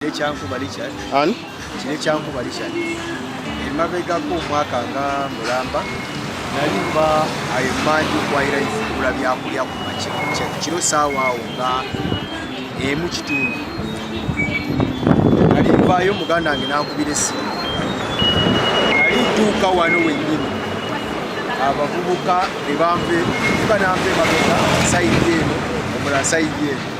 Ekyankuba Richard. Ani? Kino ekyankuba Richard. Emabegako omwaka nga mulamba nali mba ayemanji okwayira nfukula byakulya ku makya kiro saawa awo nga emu kitundu nali nvaayo muganda wange nankubira essimu nali ntuuka wano wennyini abavubuka ne banve bananve emabega sayidi eno omulala sayidi eno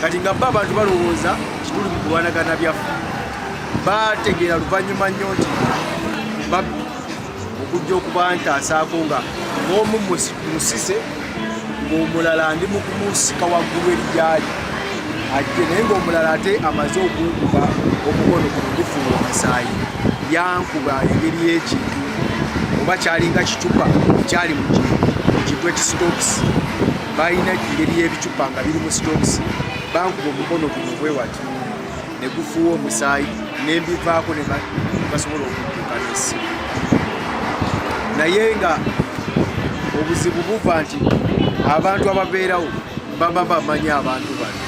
kati nga bba abantu balowooza kituli mu kulwanagana byaffe bategeera luvannyuma nnyo nti babbi okujja okubantasaako nga omu musise ng'omulala ndi mu kumusika waggulu erijaali ajje naye ng'omulala ate amaze okunkuba omukono ku ndifuula omusaayi yankuba engeri y'ekintu oba kyalinga kicupa ekyali mu kintu ekisitokisi balina engeri y'ebicupa nga biri mu sitokisi bankuba omukono guno bwe wati ne gufuuwa omusaayi nembivaako ne basobola okudduka n'essimu naye nga obuzibu buva nti abantu ababeerawo baba bamanyi abantu bano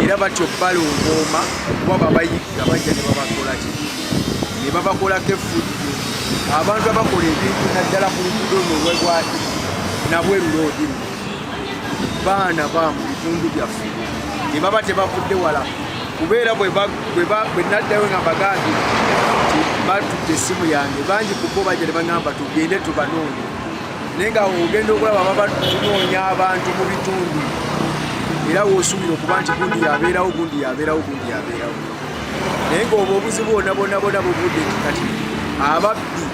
era batyo balongooma kuba babayigga bajja ne babakola ki ne babakolako effujjo abantu abakola ebintu naddala ku lugudo luno lwebwati nabweru loodi baana ba mu bitundu byaffe ne baba tebavudde wala kubeera bwe naddayo nga bagambi nti batudde essimu yange bangi kubo bajja ne bagamba tugende tubanoonya naye nga ogenda okulaba baba tunoonya abantu mu bitundu era wosuubira okuba nti gundi yabeerawo gundi yabeerawo gundi yabeerawo naye ngaoba obuzibu bonabonabona buvudde kati ababbi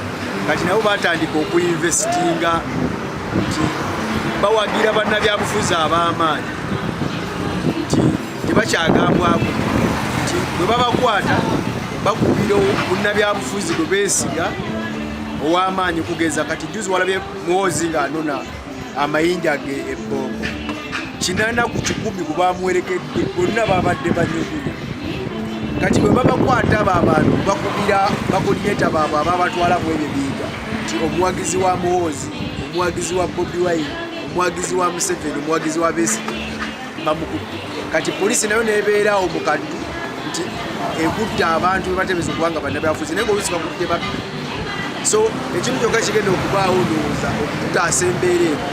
kati nabo batandika okuinvestinga nti bawagira bannabyabufuzi ab'amaanyi nti tebakyagambwaku nti bwe babakwata bakubira munnabyabufuzi bwe beesiga ow'amaanyi kugeza kati juzi walabye muwozi ng'anona amayinja ge ebbombo kinana ku kikumi ku bamuwerekedde bonna babadde banyugulu kati bwe babakwata abo abantu bakubira bakuliyeta baabwe ababatwala mu ebyo biyiga nti omuwagizi wa muwozi omuwagizi wa bobi wine omuwagizi wa museveni omuwagizi wa besiti bamukudde kati poliisi nayo nebeeraawo mu kaddu nti ekudde abantu bebatebeeza okuba nga bannabyafuzi naye ngaolusi bakudde babbi so ekintu kyokka kigenda okubaawo ndowooza okutaasa embeera eno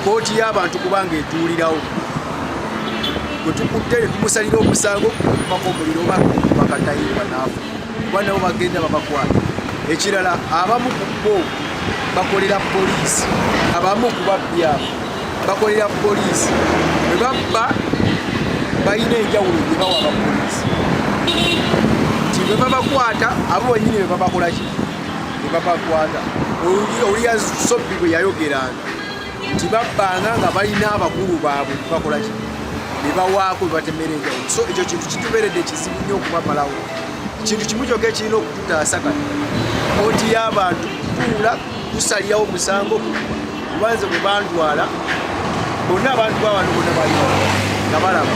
kooti y'abantu kubanga etuulirawo gwe tukudde ne tumusalira omusango okubako omuliro oba bakatayirwa naafu kuba nabo bagenda babakwata ekirala abamu ku bo bakolera poliisi abamu ku babbyabo bakolera poliisi bwe babba balina enjawulo gye bawa bapoliisi nti bwe babakwata abo banyini bwe babakolaki bwe babakwata oluyasobbi bwe yayogeranga nti babbanga nga balina abakulu baabwe bakolaki nebawaako bebatemera enjawulo so ekyo kintu kituberedde kizibu nnyo okubamalawo kintu kimu kyoka ekirina okututaasa kati koti y'abantu kutuula kusalirawo omusango kubanze bwe bandwala bonna abantu babantu bonna bali nga balaba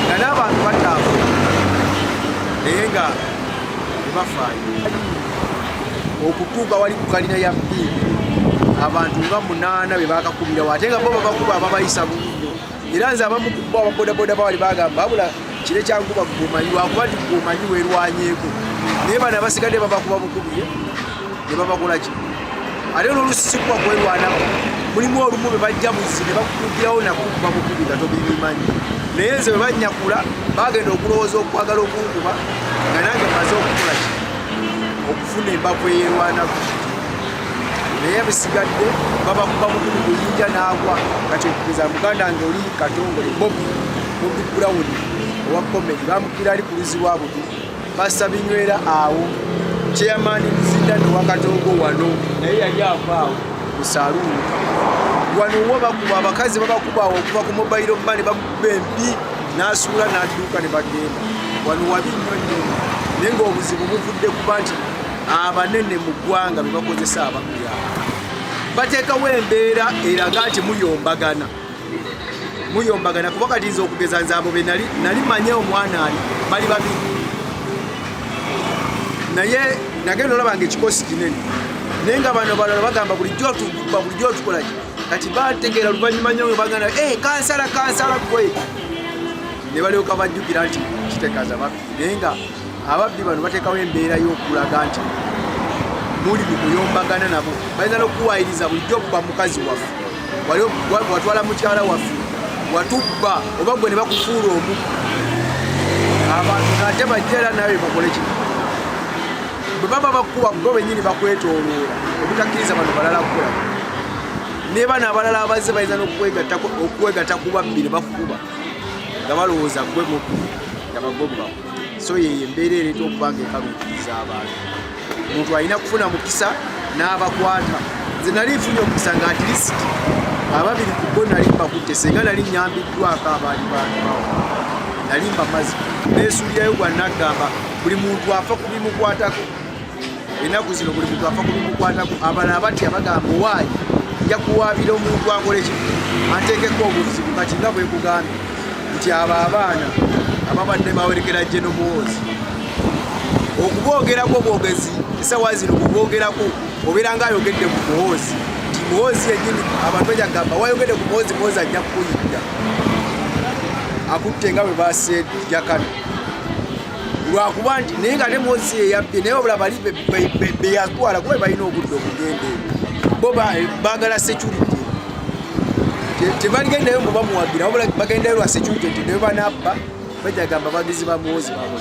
nga n'abantu batambula naye nga tebafaayo okutuuka wali ku kalina ya biibi abantu nga munaana be bakakubirawo ate nga bo babakuba ababayisa bubi nnyo era nze abamu kubo ababodaboda bawali bagamba abula kire kyankuba gumanyi wakuba nti gumanyi werwanyeeko naye bano abasigadde babakuba bukubi ne babagula ki ate nolusi kuba kwerwanako mulimu olumu be bajja buzi ne bakukugirawo nakukuba bukubi nga tobibimanyi naye nze bwe banyakula bagenda okulowooza okwagala okunkuba nga nange maze okukola ki okufuna embavu eyerwanako naye bisigadde babakuba mukulu buyinja n'agwa kati okukiza muganda nge oli katongole bobi bobi brown owa komedi bamukira ali ku luzi lwa budu Pastor Binywera awo chairman Mzindani wakatogo wano naye yali avaawo ku saluuni wano wo bakuba abakazi babakuba awo okuva ku mobile money bakuba embi n'asuula n'adduuka ne bagenda wano wabi nnyo nnyo naye ng'obuzibu buvudde kuba nti abanene mu ggwanga be bakozesa abakuyaaba bateekawo embeera eraga nti muyombagana muyombagana kuba kati nze okugeza nze abo benali nali manye omwana ali bali babi naye nagenda olaba nga ekikosi kinene naye nga bano balala bagamba bulijjo tuba bulijjo otukolaki kati bategeera luvannyuma nyo bagana e eh, kansala kansala kwe ne balyoka bajjukira nti kitekaza babi naye nga Ababbi bano bateekawo embeera y'okulaga nti muli mu kuyombagana nabo, bayinza n'okukuwaayiriza bulijjo okuba mukazi waffe, watwala mukyala waffe, watubba oba gwe ne bakufuula omu abantu ate bajja era nawe bakole kino bwe baba bakukuba bo benyini bakwetoloola obutakkiriza bano balala kukola naye bano abalala abazze bayinza n'okwegatta ku babbi ne bakukuba nga balowooza gwe muku nga bagoba so yeyo embeera ereeta okuba nga ekaluukiriza abantu omuntu alina kufuna mukisa n'abakwata nze nali nfunye omukisa nga atilisiti ababiri ku bo nali mbakutte senga nali nyambiddwako abaali bantu bawo nali mbamazi nesuulirayo gwa naggamba buli muntu afa ku bimukwatako ennaku zino buli muntu afa kulukukwatako abala abatya bagamba owaayi nja kuwaabira omuntu akola eki anteekeko obuzibu kati nga bwekugambye nti abo abaana ababadde bawerekera jje nomuwoozi okuboogerako obwogezi esawa zino kuboogerako obeera nga ayogedde ku muwoozi nti muwoozi yenyini abantu enyagamba wayogedde ku muwoozi muwoozi ajja kukuyinda akutte nga bwe baseejakana lwakuba nti naye nga nemosi eyabbye naye obula bali beyatwala kuba balina obudde okugenda bo bagala security tebagendayo mbu bamuwagira wabula bagendayo lwa security nti naye banabba bajagamba bagizi bamuwozi babo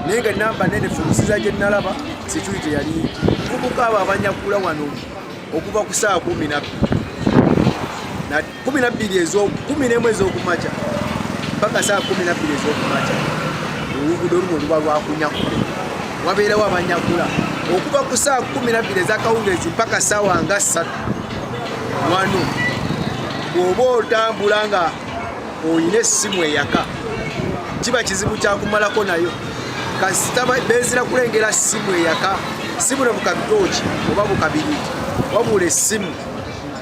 naye nga namba nene fumusiza gyenalaba security yali kubuka abo abanyakula wano okuva ku saa kumi nabbi kumi na bbiri kumi n'emu ez'okumakya mpaka saa kumi na bbiri ez'okumakya oluguudo luno luba lwakunyakula wabeerawo abanyakula okuva ku saa kumi na bbiri ezakawungeezi mpaka saawa nga ssatu wano bw'oba otambula nga olina essimu eyaka kiba kizibu kyakumalako nayo kasita bezira kulengera ssimu eyaka si buno bukabitooki oba bukabiriti wabula essimu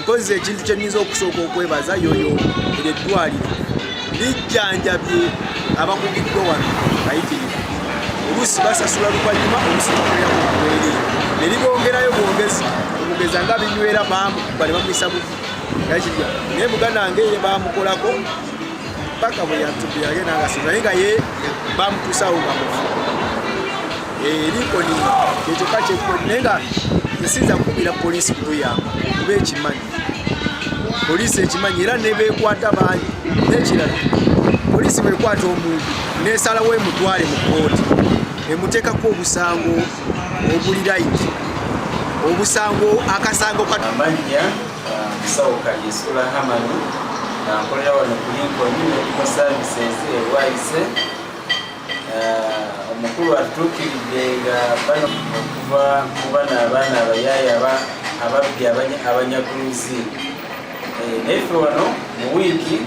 Mpozi ekintu kye nnyinza okusooka okwebaza yoyo eryo eddwaliro lijjanjabye abakugiddwa wano bayitirivu oluusi basasula luvannyuma oluusi bakolera ku mawere ne libongerayo bwongezi okugeza nga binywera maamu bali bamuyisa bubi yakirya naye muganda wange ye bamukolako paka bwe yatubyage n'agasiro naye nga ye bamutuusawo nga mufu likoni kyekyokka kyekoni naye nga esinza kukubira poliisi kutuyamba kuba ekimanyi poliisi ekimanyi era nebekwata bangi nekirala poliisi bwekwata omuntu nesalawo emutwale mu kooti emuteekako obusango obuli layiti obusango akasango kamannya musawo uh, kalyesula hamani nkolera wano ku linkoni ne services erwayise Eh, omukulu atutuukiridde nga bano okuva mu bano abaana abayaaya ababbi abanyaguluzi eh, naife wano mu wiiki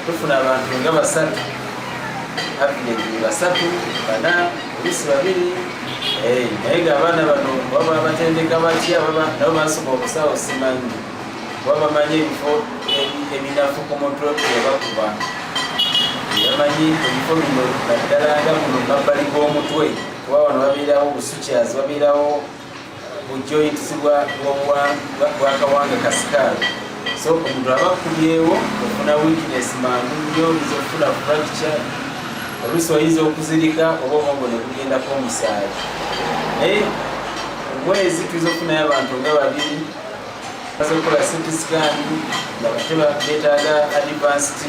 tufuna abantu nga basatu avilegi basatu bana olusi babiri eh, naye nga abaana bano baba batendeka batya nabo basobola okusawo simanyi kuba bamanyi ebifo ebinafu ku mutwe webakuba bamanyi ebifo bino naddala nga muno mabbali g'omutwe kuba wano babeerawo busukyazi babeerawo bujoints bwakawanga kasikaalo so omuntu aba akubyewo ofuna weakness mangu nyo oyinza okufuna fracture oluusi oyinza okuzirika oba omwogo nekugendako omusaayi naye omwezi tuyinza okufunayo abantu nga babiri basobola sente zigandi nga bateba betaaga advanced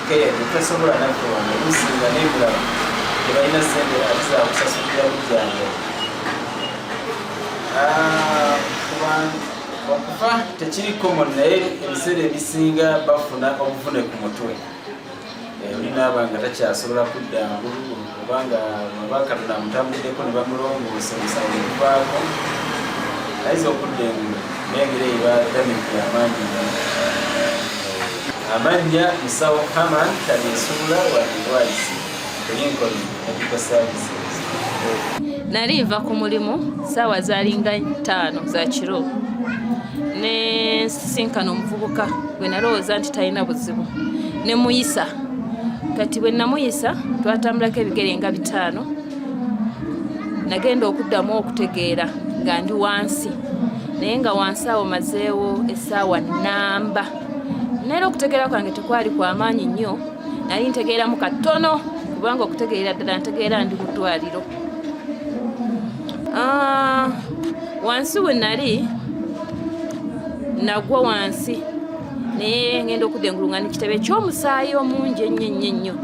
care tutasobola naffe wano olusinga nebulaba tebalina sente ate zakusasulira bujjango ah, okufa tekiri common naye ebiseera ebisinga bafuna obuvune ku mutwe eh, olinaaba nga takyasobola kudda ngulu oba nga babakatula amutambuliddeko ne bamulongoosa omusango guvaako ayinza okudda engulu nengeri eyo badamiki amaanyi eh, amannya musawo haman talyesubula wadivaizi lincoln medical services nali nva ku mulimu saawa zalinga ttaano za kiro ne sisinkana omuvubuka gwe nalowooza nti talina buzibu ne muyisa kati bwe namuyisa twatambulako ebigere nga bitaano nagenda okuddamu okutegeera nga ndi wansi naye nga wansi awo mazeewo essaawa namba naera okutegeera kwange tekwali kwamaanyi nnyo nali ntegeeramu katono kubanga okutegeera ddala ntegeera ndi mu ddwaliro Ah, wansi we nali nagwa wansi naye ngenda okudda engulu nga nekitebe ekyomusaayi omungi ennyo ennyo ennyo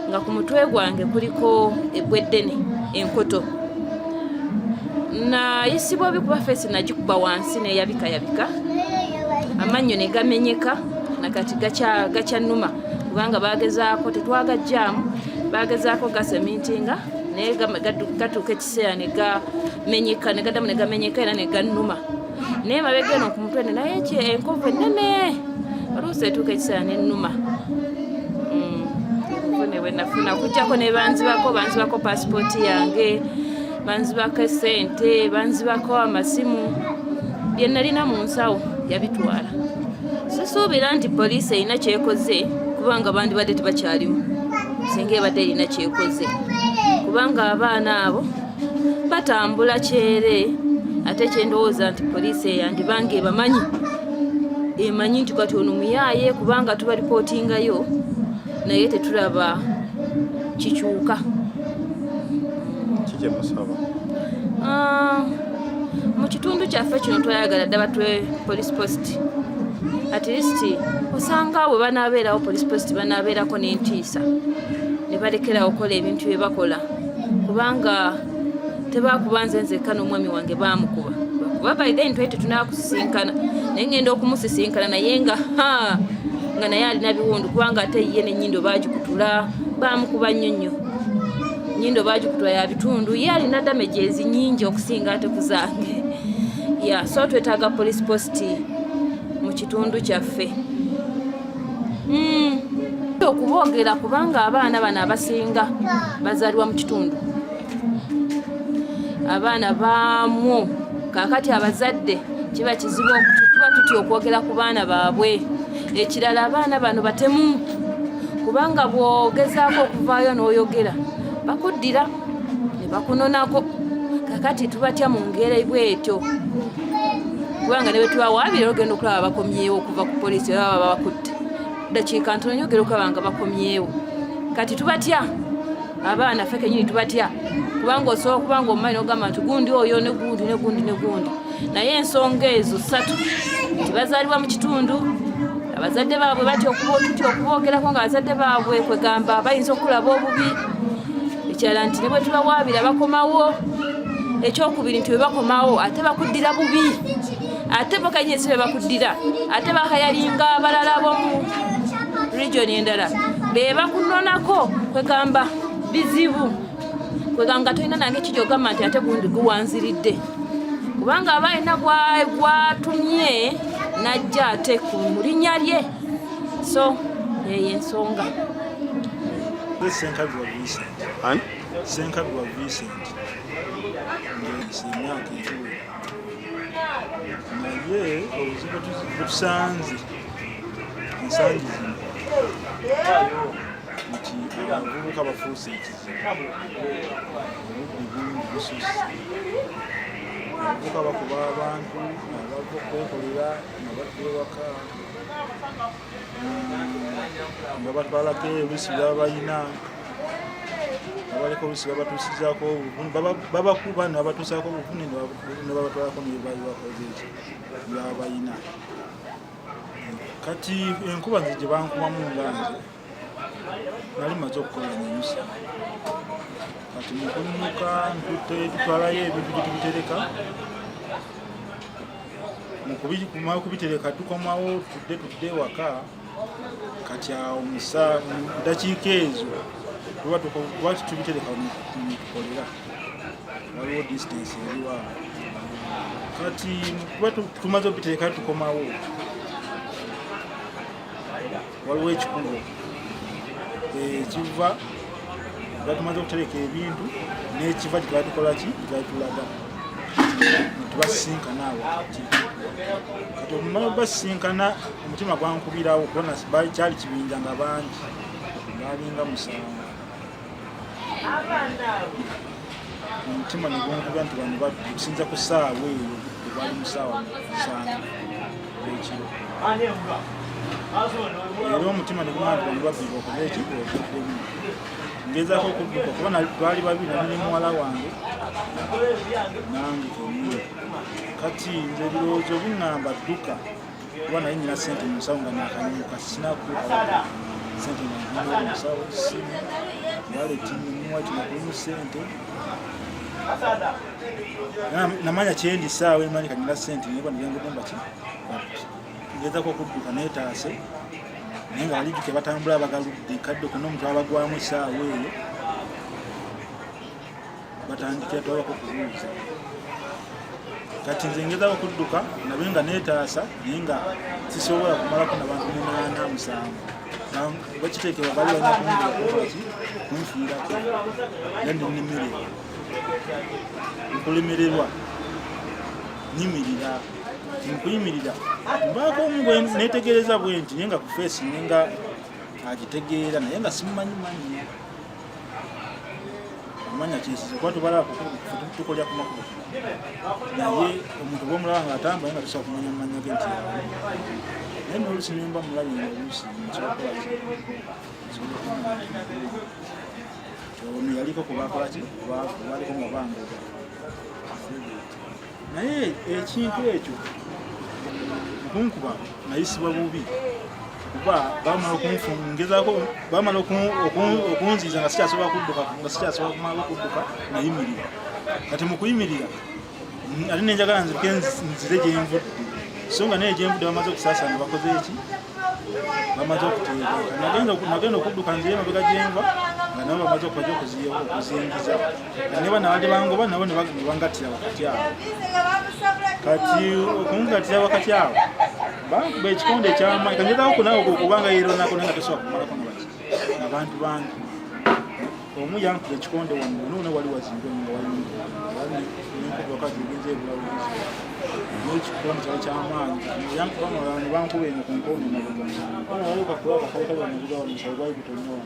nga ku mutwe gwange kuliko ebweddene enkoto nayisibwa obi kuba feesi nagikuba wansi neyabika yabika amannyo ne gamenyeka nakati gakyannuma kubanga bagezaako tetwagajjaamu bagezaako gasemintinga naye gatuuka kiseera ne gamenyeka ne gadamu ne gamenyeka era ne gannuma naye mabega eno ku mutwe naye ekyo enkovu ennene oluusi etuuka ekiseera nennuma mm. nafuna kujjako ne banzibako banzibako pasipooti yange banzibako esente banzibako amasimu bye nalina mu nsawo yabitwala sisuubira nti poliisi erina kyekoze kubanga bandibadde tebakyalimu singa ebadde erina kyekoze kubanga abaana abo batambula kyere ate kyendowooza nti poliisi eyandibanga ebamanyi emanyi nti kati ono muyaaye kubanga tuba lipootingayo naye tetulaba kikyuka kikyemusaba ah, mu kitundu kyaffe kino twayagala ddaba twe police post at least osanga bwe banaabeerawo police post banaabeerako n'entiisa ne balekerawo okukola ebintu bye bakola kubanga tebakuba nze nzekka n'omwami wange baamukuba kuba by then twali tetunakusisinkana naye ngenda okumusisinkana naye nga nga naye alina biwundu kubanga ate ye nenyindo bagikutula bamukuba nnyo nnyo nyindo bagikutwa ya bitundu ye alina damage ezinyingi okusinga ate ku zange ya so twetaaga police post mu kitundu kyaffe hmm. okuboogera kubanga abaana bano abasinga bazaalibwa mu kitundu abaana baamu kaakati abazadde kiba kizibu tuba tutya okwogera ku baana baabwe ekirala abaana bano batemu kubanga bwogezaako okuvaayo n'oyogera bakuddira ne bakunonako kakati tubatya mu ngeri bwetyo kubanga ne bwetubawaabira ogenda okulaba bakomyewo okuva ku poliisi oba baba bakutte dakiika ntono nyogera okulaba nga bakomyewo kati tubatya abaana ffe kenyini tubatya kubanga osobola okuba nga omumanyi nogamba nti gundi oyo negundi negundi negundi naye ensonga ezo satu nti bazaalibwa mu kitundu abazadde baabwe batya okutya okuboogerako nga abazadde baabwe kwegamba bayinza okulaba obubi ekirala nti ne bwe tubawaabira bakomawo ekyokubiri nti bwe bakomawo ate bakuddira bubi ate bokanye esibe bakuddira ate bakayalinga abalala bomu region endala bebakunonako kwegamba bizibu kwegamba tolina nange kiri ogamba nti ate gundi guwanziridde kubanga aba alina gwatumye najja ate ku mulinya lye so eyo ensonga senkabirwa vincent senkabirwa vincent ngemyaka ekiwera naye obuzibu tusanze ensangi zino nti abavubuka bafuuse ekizibu obubbi bungi bususse abavubuka bakuba abantu abava okwekolera nga badda ewaka nga batwalako olusi baba balina abaleka olusi babatuusizako obuvune babakuba nabatuusako obuvune nebabatwalako nebabakoze ekyo baba balina kati enkuba nze gye bankubamu nga nze nali maze okukola nenyusa kati mukunnuka ntutwalayo ebintu gyetubitereka mukumala kubitereka tukomawo tudde tudde ewaka kati awo musa dakiika ezo tuba tukwati tubitereka mutukolera waliwo distance eriwa kati tuba tumaze obitereka tukomawo waliwo ekikubo ekiva batumaze okutereka ebintu n'ekiva kyetwatukolaki kyetwatulaga tubasisinkana awo kati kati omumala basisinkana omutima gwankubirawo kubona kyali kibinja nga bangi balinga musango omutima negunkuba nti bano basinza ku saawa eyo bali mu saawa musanvu ekiro era omutima negunkuba nti bano babbiba okuba ekiro okuddemu ngezako okudduka kuba twali babiri nali muwala wange nange omwe kati nze ebirowoozo bingamba dduka kuba naye nyina sente mu nsawo nga nakanyuka sinaku sente nagenda mu nsawo simu waleti mumuwa kino kulimu sente namanya kyendi saawa emanyi kanyina sente naye banagengude mbaki ngezako okudduka netaase naye nga balijuke batambula abagaludde kadde okuna omuntu abagwamu esaawa eyo batandikira tobako kubuuza kati nze ngeza okudduka nabe nga netaasa naye nga sisobola kumalako nabantu munaana musanvu bakiteekebwa bali banakunaki kunfiirako nandi nimire nkulemererwa nyimirira nkuyimirira mbaako omu netegereza bwenti naye nga kufeesi naye nga agitegeera naye nga simumanyi manyi omanya kyesize kuba tubala tukolya ku makubo naye omuntu bwomulaba nga atambula nga tusobola kumanya mumanya ge nti naye nolusi nimba mulabi nga olusi ono yaliko kubakolaki kubaliko nga bangoga naye ekintu ekyo okunkuba nayisibwa bubi kuba bamala okunfungezaako bamala okunziiza nga sikyasobola kudduka nga sikyasobola kumala okudduka nayimirira kati mu kuyimirira ate nenjagala nzirike nzire gyenvudde so nga naye gyenvudde bamaze okusaasana bakoze eki bamaze okuteebuka nagenda okudduka nzire mabega gyenva nga nabo bamaze okubaja okuzingiza ne bano abadde bangoba nabo ne bangattira wakati awo kati okungattira wakati awo bankuba ekikonde ekyamaanyi kanjetawo kunawe kubanga yeronako naye nga tosobola kumalako nga baki abantu bange omu yankuba ekikonde wange noona wali wazimbe nga walinkuwakati ogenza ebulawuzi nekikonde kyali kyamaanyi yankuba bankuba eno ku nkondo nabugamukakuba akakawuka banabugawa musawo gwali gutonyowa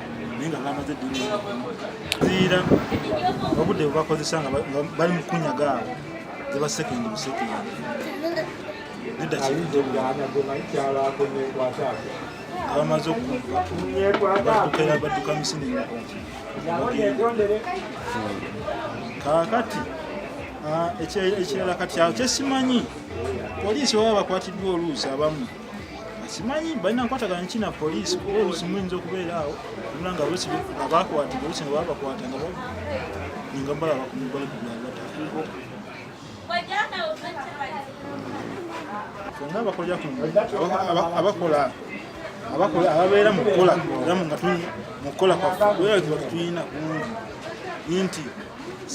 naye nga bamaze ziira obudde bwebakozesa nga bali mu kunyaga awo ziba sekendi busekendi abamaze okubaddukira badduka misini kakati ekirala kati awo kyesimanyi poliisi baba bakwatiddwa oluusi abamu simanyi balina nkwatagana ki na poliisi kuba olusi muyinza okubeera awo olula nga olusi abakwata olusi nga babakwata nga ninga bala bakumubali fenga abakolera kuabakola abakola ababeera mukukola era nga mukukola kwaffe era tulina kungi nti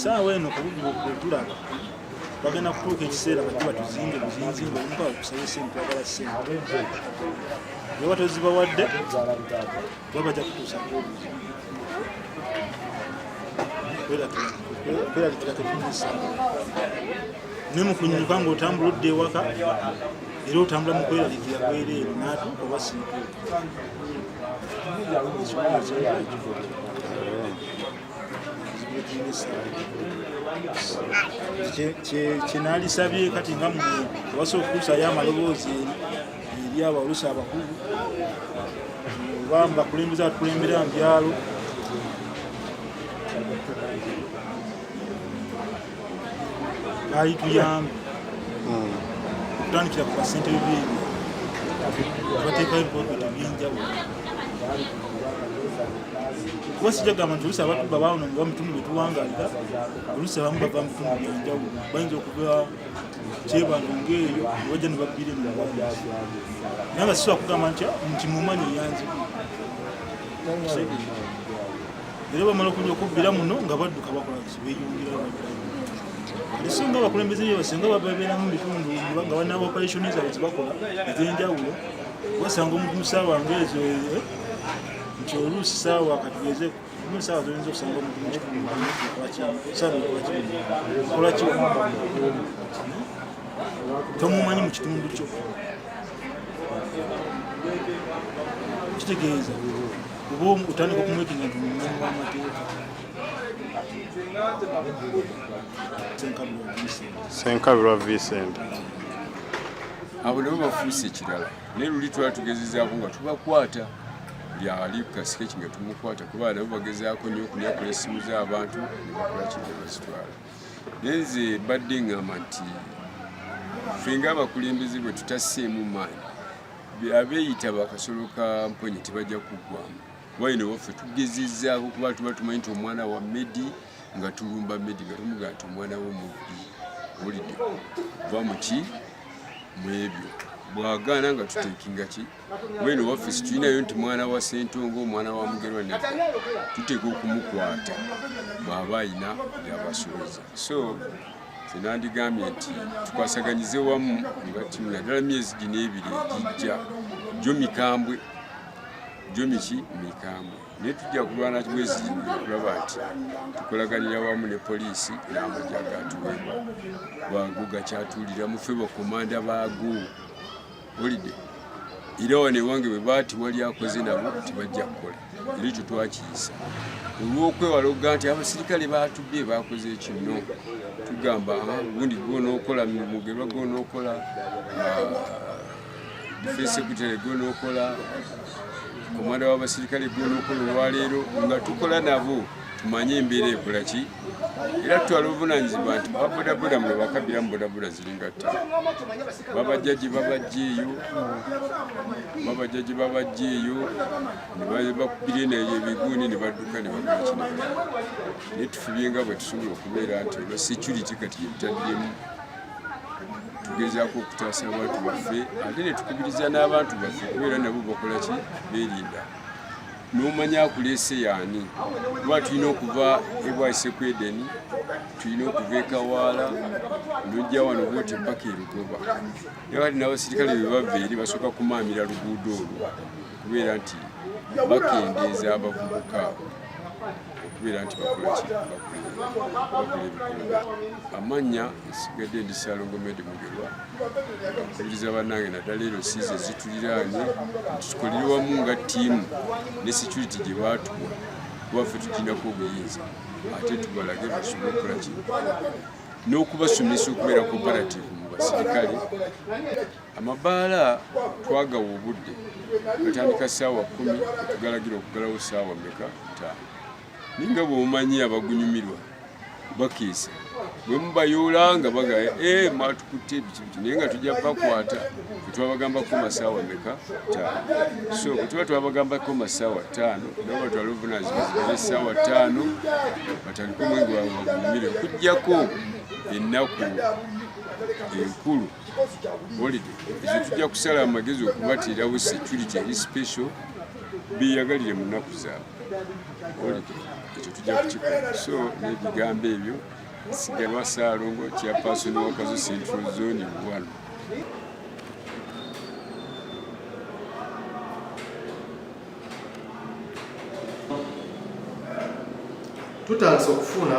saawa eno kubugibwa kwetulaba bagenda kutuuka ekiseera bajje batuzimbe buzinzi ngaomuka kusaba sente twagala sente oba tozibawadde oba bajja kutuusa kwerabikira tetuisa naye mukunyuka ngaotambula odda ewaka era otambula mu kwerabikira bwereere natuuka oba sintuuka kyenalisabye kati nga mwe tebasa okutuusayo amaloboozi eri abaolusa abakulu oba mubakulembeza atukulembera mu byalo baali tuyambe hmm. kutandikira ku basente bibiri abateekayo ebikokota ebyenjawulo kuba sijja gamba nti olusi abatuba baawona nga mutundu bwe tuwangalira olusi abamu bava mutundu byenjawulo bayinza okuva kyebando ngaeyo bajja ne babbire mu naye nga sisobola kugamba nti ah, nti mumanyi eyanzibu era bamala okuja okubbira muno nga badduka bakola esinga abakulembeze byo basinga babeera mu bitundu nga balina operation zaabwe zebakola ez'enjawulo basanga omuntu mu saawa ngaezo eh, nti oluusi saawa katugeze mu saawa zoyinza okusanga omuntu mukitundukolaki tomumanyi mu kitundu kyo kitegeeza oba otandika okumwekinga nti mumanyi w'amateeka senkabirwa vincent abo nabo bafuuse ekirala naye luli twala tugezezaako nga tubakwata lyali kasike kinga tumukwata kuba nabo bagezaako nyo okunyakula essimu z'abantu nebakola kinga bazitwala naye nze badde ngamba nti ffe nga abakulembeze bwe tutaseemu maanyi abeeyita bakasolo ka mponye tebajja kuggwamu wayino waffe tugezezzaako kuba tuba tumanyi nti omwana wa medi nga tulumba medi nga tumugaa nti omwana wo mubbi olidde va muki mu ebyo bwagaana nga tutekinga ki wayino waffe situlinayo nti mwana wa sentonga omwana wa mugerwa ne tuteeka okumukwata bwaba ayina yabasuuza so tenandigambye nti tukwasaganyize wamu nga timu naddala myezi gino ebiri egijja gyo mikambwe jomiki mikambwe naye tujja kulwana bwezirimu okulaba nti tukolaganira wamu ne poliisi n'amagye agatuweebwa bwago gakyatuulira mufe bakomanda baago olide era wano ewange bwe baati wali akoze nabo tebajja kukola era ekyo twakiyisa olw'okwewala okugaa nti abasirikale baatubbye baakoze ekinno tugamba ah, gundi gwonaokola mugerwa gwonaokola ah, fesekutale gwonokola komanda w'abasirikale gwonokola olwaleero nga tukola nabo tumanye embeera ekola ki era tutwala obuvunanyizibwa nti babodaboda mwe bakabiramu bodaboda ziringa tta babajjaji babajja eyo babajjaji babajja eyo nebakubira enayo ebiguuni ne badduka ne bakola kino naye tufubye nga bwe tusobola okubeera nti olwa security kati yebitaddemu tugezaako okutaasa abantu baffe ate ne tukubiriza n'abantu baffe kubeera nabo bakola ki beerinda n'omanya akuleese yaani kuba tulina okuva ebwaise ku edeni tulina okuva ekawaala nojja wano bwoti mpaka erugoba era kati n'abasirikale bebava eri basooka kumaamira luguudo olwo kubeera nti bakendeeza abavubuka okubeera nti bakolakibakula amannya nsigadde ndi salongo medi mugerwa akubiriza bannange naddala ero siizi ezituliraanye tukolere wamu nga ttiimu ne security gye baatuwa kuba ffe tuginako obuyinza ate tubalage basobole okukola kino n'okubasomesa okubeera cooperative mu basirikale Amabaala twagawa obudde gatandika ssaawa kumi tugalagira okugalawo ssaawa meka ttaano naye nga bwomanyi abagunyumirwa bakiisa bwe mubayoola nga bagaya e eh, mwatukutte ebikibitu naye nga tujja bakwata bwetwabagambako masaawa meka ttaano so bwetuba twabagambako masaawa ttaano nabo batwala obuvunanyizibwa zibere essaawa ttaano batandika omwenge wawe bagunyumire okujjako ennaku enkulu holiday ezo tujja kusala amagezi okubatiirawo security eri special beyagalire mu nnaku zaabwe holiday ekyo tujja kukikola so n'ebigambo ebyo sigalwa saalongo kya paasoni wakazo central zone wano tutandise okufuna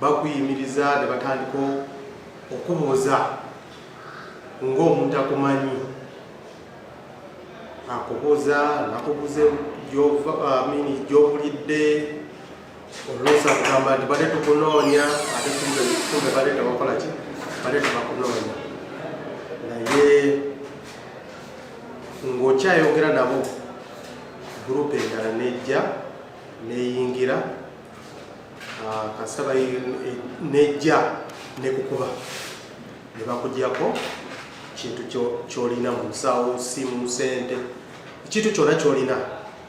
bakuyimiriza ne batandika okubuuza ng'omuntu akumanyi akubuuza nakubuuza amini gyobulidde oluusa kugamba nti bale tukunoonya ate kumbe bale tebakola ki bale tebakunoonya naye ng'okyayogera nabo gurupu endala nejja neyingira Ah, kasita nejja nekukuba nebakugyako kintu kyolina mu nsawo simu sente ekintu kyona kyolina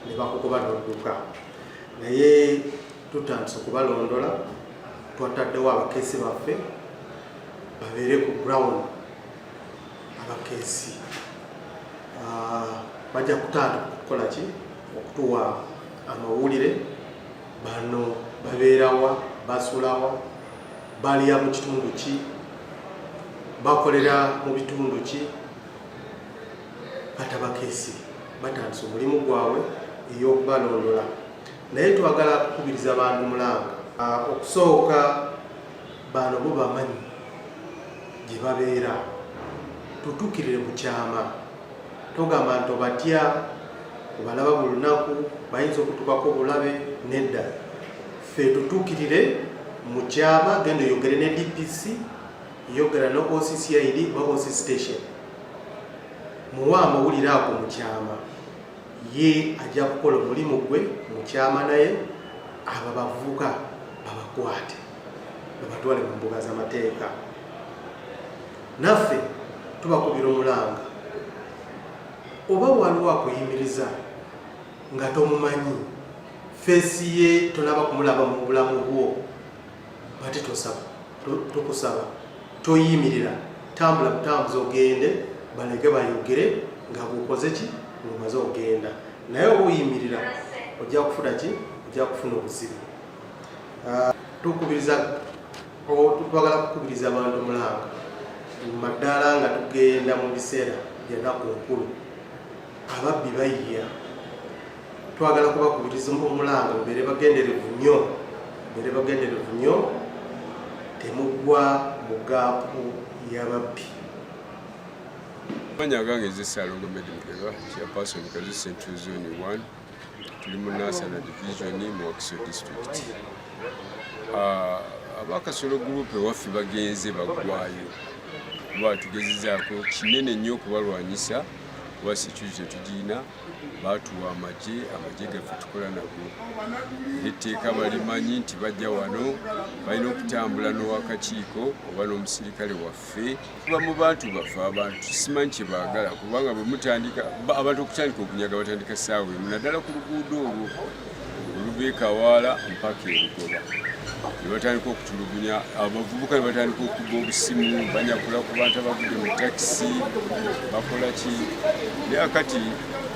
nebakukuba nodduka naye tutandise okubalondola twataddewo abakeesi baffe babeere ku ground abakeesi ah, bajja kutandika okukolaki okutuwa amawulire bano babeerawa basulawa balya mu kitundu ki bakolera mu bitundu ki batabakeesi batandisa omulimu gwabwe ey'okubalondola naye twagala kukubiriza bantu mulanga ah, okusooka bano bo bamanyi gye babeera tutukirire mu kyama togamba nti obatya obalaba buli lunaku bayinza okutukako obulabe nedda ffe tutuukirire mu kyama genda oyogere ne dpc yogera ne occid oba oc station muwa amawulire ago mu kyama ye ajja kukola omulimu gwe mu kyama naye abo bavubuka babakwate babatwale mu mbuga z'amateeka naffe tubakubira omulanga oba waliwo akuyimiriza nga tomumanyi feesi ye tonaba kumulaba mu bulamu bwo bati tosaba tukusaba toyimirira tambula butambuza ogende baleke bayogere nga bwokoze ki ngomaze ogenda naye oba oyimirira ojja kufuna ki ojja kufuna obuzibu ah, tukubiriza Twagala kukubiriza abantu mulanga maddala nga tugenda mu biseera byenaku nkulu ababbi bayiya twagala kubakubiriza omulanga mubere bagenderevu nnyo mubere bagenderevu nnyo temugwa mu gaapu yababbi manya gange zisalo gomedi mukeba chairperson kazi central zone 1 tuli mu nasana division mu wakiso district ah, abakasolo gurupe waffe bagenze bagwayo kuba tugezezaako kinene nnyo okubalwanyisa kuba security tetugirina baatuwa amagye amagye gaffe tukola nago etteeka balimanyi nti bajja wano balina okutambula n'owakakiiko oba n'omusirikale waffe ffe tuba mu bantu baffe abantu simanyi kye baagala kubanga bwe mutandika abantu okutandika okunyaga batandika ssaawa emu naddala ku luguudo olwo oluva ekawaala mpaka erugoba ne batandika okutulugunya abavubuka ne batandika okuba obusimu banyakula ku bantu abagudde mu takisi bakola ki naye kati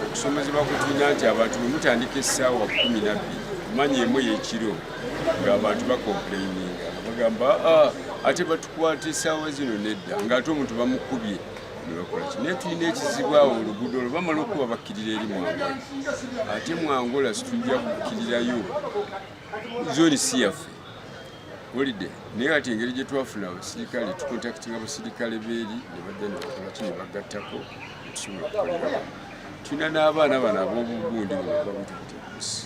okusomezebwa kutunya nti abantu bwe mutandika essaawa kumi nabbiri kumanya emu yekiro ng'abantu bakomplaininga bagamba ah, ate kwata esaawa zino nedda nga ate omuntu bamukubye nebakolaki naye tulina ekizibu awo oluguudo olwo bamala okuba bakkirira eri mwangola ate mwangola situjja kukkirirayo zoni si yaffe olide naye ati engeri gye twafuna abasirikale tukontakitinga abasirikale beeri ne badda ne bakolaki ne bagattako netusobola okukolerawo tulina n'abaana bano ab'obugundi bwebababutubutebusi